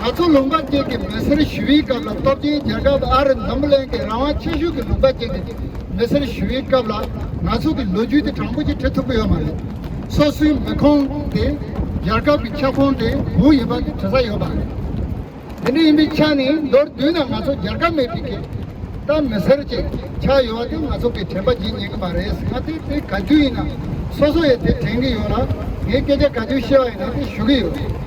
ད་ཚོ་ལུང་པ་བཅས་ཀྱི་མི་སེར་ཞི་བའི་སྐབས་ལ་སྟོབས་ཆེན་རྒྱལ་ཁབ་ཨ་རི་འཛམ་བུ་གླིང་གི་རང་དབང་ཆེ་ཤོས་ཀྱི་ལུང་པ་བཅས་ཀྱི་མི་སེར་ཞི་བའི་སྐབས་ལ་ང་ཚོ་གི་ལོ་རྒྱུས་དེ་དྲང་པོ་ཞིག་འཁྲིད་ཐུབ་ཀྱི་ཡོད་མ་རེད། སོ་སོའི་མི་ཁོངས་དེ་རྒྱལ་ཁབ་ཀྱི་ཁྱབ་ཁོངས་དེ་གང་ཡིན་པ་དེ་དྲི་ས་ཡོད་པ་རེད། དེ་འདྲ་ཡིན་པའི་ཆ་ནས་མདོར་བསྡུས་ན་ང་ཚོ་རྒྱལ་ཁབ་མེད་པའི་ཁེ་ད་མི་སེར་བཅས་ཆགས་ཡོད་པ་དེ་ང་ཚོ་གི་དྲན་པ་འབྱིན་ཉན་གྱི་མ་རེད་ཟེར་ན་དེ་དེ་ག་དུས་ཡིན་ན་སོ་སོ་ཡས་དེ་དྲན་གྱི་ཡོད་ལ་ངས་སྐད་ཆ་ག་དུས་བཤད་པ་ཡིན་ན་དེ་ཞུ་གི་ཡོད།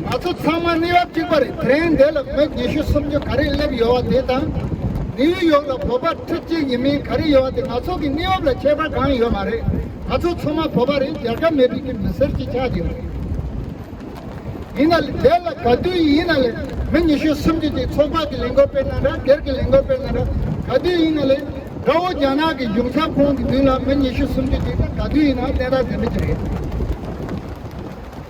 ང་ཚོ་ཚང་མ་གནས་བབ་གཅིག་པ་རེད་དེ་རིང་འདས་ལ་ངོས་ཉི་ཤུ་སུམ་ཅུ་ག་རེ་སླེབས་ཡོད་བ་དེ་དང། ནིའུ་ཡོག་ལ་བོད་པ་ཁྲི་གཅིག་ཡིན་མིན་ག་རེ་ཡོད་བ་དེ་ང་ཚོ་གི་གནས་བབ་ལ་ཁྱད་པར་གང་ཡོད་མ་རེད་ང་ཚོ་ཚང་མ་བོད་པ་རེད་རྒྱལ་ཁབ་མེད་པའི་ཀྱི་མི་སེར་གཅིག་ཆགས་ཀྱི་རེད། ཡིན་ན་ལེ་འདས་ལ་ག་དུས་ཡིན་ན་ལེ་མི་ཉི་ཤུ་སུམ་ཅུ་དེ་ཚོགས་པ་གི་ལས་འགོ་སྤེལ་ན་འདྲ་སྒེར་གི་ལས་འགོ་སྤེལ་ན་འདྲ་ག་དུས་ཡིན་ན་ལེ་དགྲ་བོ་རྒྱ་ནག་གི་གཞུང་ཚབ་ཁོང་གི་མདུན་ལ་མི་ཉི་ཤུ་སུམ་ཅུ་དེ་དང་ག་དུས་ཡིན་ན་གནས་སྟངས་དེ་འདྲ་གྱི་རེད།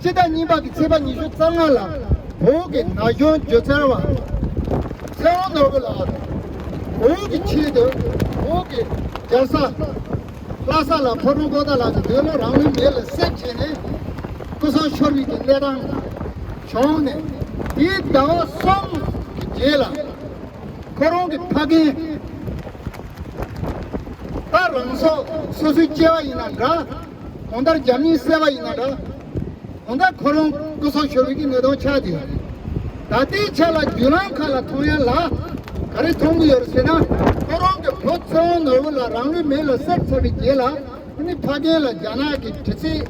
སྤྱི་ཟླ་གཉིས་པ་གི་ཚེས་པ་ཉི་ཤུ་རྩ་ལྔ་ལ་བོད་ཀྱི་ན་གཞོན་སྒྱུ་རྩལ་བ་ཚེ་རོང་ནོར་བུ་ལགས་དང་བོད་ཀྱི་ཆེད་དུ་བོད་ཀྱི་རྒྱལ་ས་ལྷ་ས་ལ་ཕོ་བྲང་པོ་ཏཱ་ལགས་ཀྱི་འདོད་བློ་རང་ལུས་མེ་ལ་བསྲེགས་བྱས་ནས་སྐུ་སྲོག་ཤོར་རིགས་ཀྱི་གནས་སྟངས་བྱུང་ནས་དེའི་ཟླ་བ་གསུམ་གྱི་རྗེས་ལ་ཁོ་རང་གི་ཕ་རྒན་ད་རང་སྲོག་སོ་སོའི་སྐྱེ་བ་ཡིན་ན་འདྲ། གོང་ལྟར་རྒྱ་མིའི་བསད་པ་ཡིན་ན་འདྲ། གོང་ལྟར་ཁོ་རང་སྐུ་སྲོག་ཤོར་བའི་གི་ནད་གདོན་ཆགས་དེ། ད་ལྟའི་ཆ་ལ་བརྒྱུད་ལམ་ཁག་ལ་མཐོང་ཡ་ལ། ག་རེ་མཐོང་གི་ཡོད་རེད་ཟེར་ན། ཁོ་རང་གི་བུ་ཚེ་དབང་ནོར་བུ་ལ་རང་ལུས་མེ་ལ་བསྲེགས་ཚར་བའི་རྗེས་ལ། ཁོ་ནི་ཕ་རྒན་ལ་རྒྱ་ནག་གི་དྲི་ཚིག་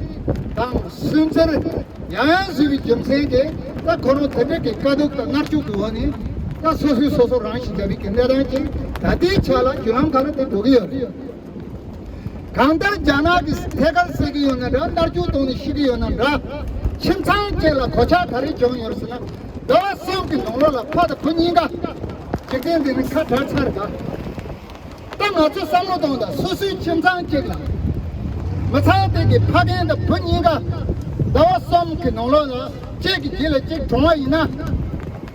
དང་སུན་གཙེར་ཡང་ཡང་བཟོས་པའི་རྒྱུ་མཚན་དེ་ད་ཁོ་རང་དེ་འདྲ་གི་དཀའ་སྡུག་དང་མནར་གཅོད་ཀི་འོག་ནས་ད་སོ་སོས་སོ་སོ་རང་ཞིག་བྱ་བའི་གི་གནས་སྟངས་ཅིག་ད་ལྟའི་ཆ་ལ་བརྒྱུད་ལམ་ཁག་ལ་དེ་འགྲོ་གི་ཡོད་རེད། གང་ལྟར་རྒྱ་ནག་གིས་ཐད་ཀར་བསད་ཀྱི་ཡོད་ན་འདྲ་མནར་གཅོད་གཏོང་ནས་ཤི་གི་ཡོད་ན་འདྲ། ཁྱིམ་ཚང་བཅས་ལ་གོད་ཆག་ག་རེ་བྱུང་ཡོད་ཟེར་ན། ཟླ་བ་གསུམ་གྱི་ནང་ལོགས་ལ་ཕ་དང་བུ་གཉིས་ཀ། འཇིག་རྟེན་འདི་ནི་ཁ་གྲགས་ཚར་ག། ད་ང་ཚོས་བསམ་བློ་གཏོང་ད་སོ་སོའི་ཁྱིམ་ཚང་གཅིག་ལ། མི་ཚང་སྟེང་གི་ཕ་རྒན་དང་བུ་གཉིས་ཀ། ཟླ་བ་གསུམ་གྱི་ནང་ལོགས་ལ་གཅིག་གིས་གྱིས་ལ་གཅིག་གྲོངས་བ་ཡིན་ན།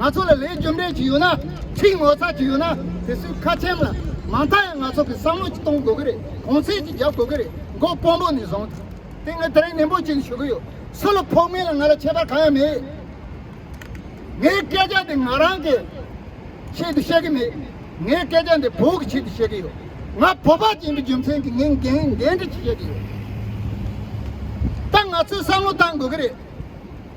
ང་ཚོ་ལ་ལས་རྒྱུ་འབྲས་ཅི་ཡོད་ན་ཕྱིའི་ངོ་ཚ་ཅི་ཡོད་ན་དེ་སུས་ཁ་ཆེམས་ལ་མ་མཐའ་ཡང་ང་ཚོ་གི་བསམ་བློ་ཅིག་གཏོང་དགོས་གི་རེད་གོང་ཚད་ཅིག་རྒྱབ་དགོས་གི་རེད་མགོ་དཔོན་པོ་ནས་བཟུང་སྟེ་ངས་ད་རིང་ནན་པོ་གཅིག་ཞུ་གི་ཡོད་སུ་ལ་ཕོག་མིན་ལ་ང་ལ་ཁྱད་པར་གང་ཡང་མེད། ངའི་སྐད་ཆ་འདི་ང་རང་གི་ཆེད་དུ་བཤད་གི་མེད། ངའི་སྐད་ཆ་འདི་བོད་ཀྱི་ཆེད་དུ་བཤད་གི་ཡོད། ང་བོད་པ་ཅན་པའི་རྒྱུ་མཚན་གྱིས་ངས་འགན་འདྲི་ཅིག་བཤད་གི་ཡོད། ད་ང་ཚོས་བསམ་བློ་བཏང་དགོས་གི་རེད།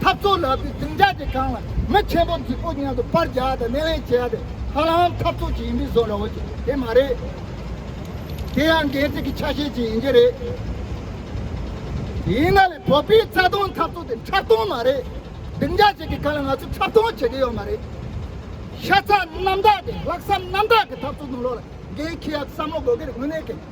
འཐབ་རྩོད་ལག་རྩལ་འཛིན་གྲྭ་དེ་གང་ལ་མི་ཆེན་པོ་རྫིག་པོ་མཉམ་དུ་པར་རྒྱག་དང་སྣེ་ལེན་བྱེད་ཡ་དེ་ཧ་ལམ་འཐབ་རྩོད་ཅིག་ཡིན་པས་བཟོ་ར་བོ་ཅིག་དེ་མ་རེད། དེ་ཡང་འགན་འཛིན་གྱི་ཆ་ཤས་ཅིག་ཡིན་གྱི་རེད། ཡིན་ན་ལས་བོད་པའི་རྩ་དོན་འཐབ་རྩོད་དེ་འཁྲབ་སྟོན་མ་རེད། འཛིན་གྲྭ་ཞིག་གི་གང་ལ་ང་ཚོས་འཁྲབ་སྟོན་བྱེད་ཀྱི་ཡོད་མ་རེད། ཤ་ཚ་རྣམ་དག་གི་ལྷག་བསམ་རྣམ་དག་གི་འཐབ་རྩོད་དང་ལོ་ལ་འགན་འཁྱེར་ཡ་བསམ་བློ་དགོས་གི་རེད་དངོས་གནས་ཀྱི།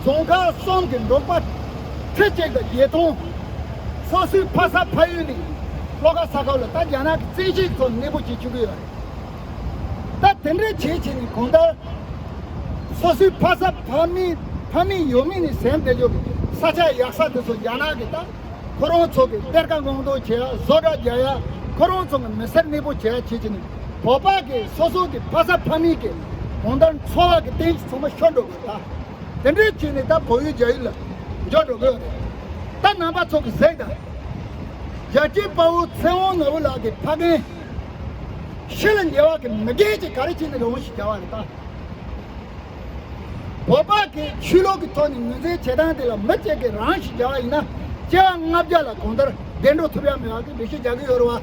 རྫོང་ཁག་གསུམ་གྱི་འབྲོག་པ་ཁྲི་གཅིག་དང་བརྒྱད་སྟོང། སོ་སོའི་ཕ་ས་ཕ་ཡུལ་ནས་ལྷོ་ཁ་ས་ཁུལ་ལ་ད་རྒྱ་ནག་གི་བཙན་ཤེད་ཁྲོད་གནས་སྤོ་བྱེད་བཅུག་གི་ཡོད་རེད། ད་དེ་འདྲ་བྱས་བྱས་ནས་གང་ལྟར་སོ་སོའི་ཕ་ས་ཕ་མའི་ཕ་མེས་ཡོད་མེད་ནས་ཟན་བསྡད་ཆོག་གི་ས་ཆ་ཡག་ས་དེ་ཚོ་རྒྱ་ནག་གིས་ད་ཁོ་རང་ཚོ་གི་གཏེར་ཁ་སྔོག་འདོན་བྱེད་ཡ་བཟོ་གྲྭ་རྒྱག་ཡ་ཁོ་རང་ཚོ་གི་མི་སེར་གནས་སྤོ་བྱེད་ཡ་བྱས་བྱས་ནས་བོད་པ་གི་སོ་སོ་གི་ཕ་ས་ཕ་མེས་ཀྱི་གང་ལྟར་འཚོ་བ་གི་གཏན་གྱི་ཚོང་པ་ཤོར་འགྲོ། དང། དེ་འདྲའི་ཚིག་ནི་ད་བོད་ཡུལ་རྒྱ་ཡུལ་ལ་འཇོག་འགྲོ་དགོས། ད་ནང་པ་ཚོ་གི་ཟེགས་དང། རྒྱལ་གཅེས་དཔའ་བོ་ཚེ་དབང་ནོར་བུ་ལགས་ཀྱི་ཕ་རྒན། ཤི་ལ་ཉེ་བ་གི་མི་རྒན་གྱི་ག་རེ་གཅིག་ནི་རེ་བོ་ཞིག་བྱ་བ་རེད་ད། བོད་པ་གི་ཆོས་ལུགས་ཀྱི་ཐོག་ནས་ངོས་འཛིན་བྱེད་སྟངས་དེ་ལ་མི་གཅིག་གི་རང་ཞིག་བྱ་བ་ཡིན་ན་སྐྱེ་བ་ལྔ་བརྒྱ་ལ་གང་ལྟར་བདེ་འགྲོ་ཐུབ་ཡ་མེད་བ་གི་འདྲི་གཞི་རྒྱག་གི་ཡོད་རེད་བ།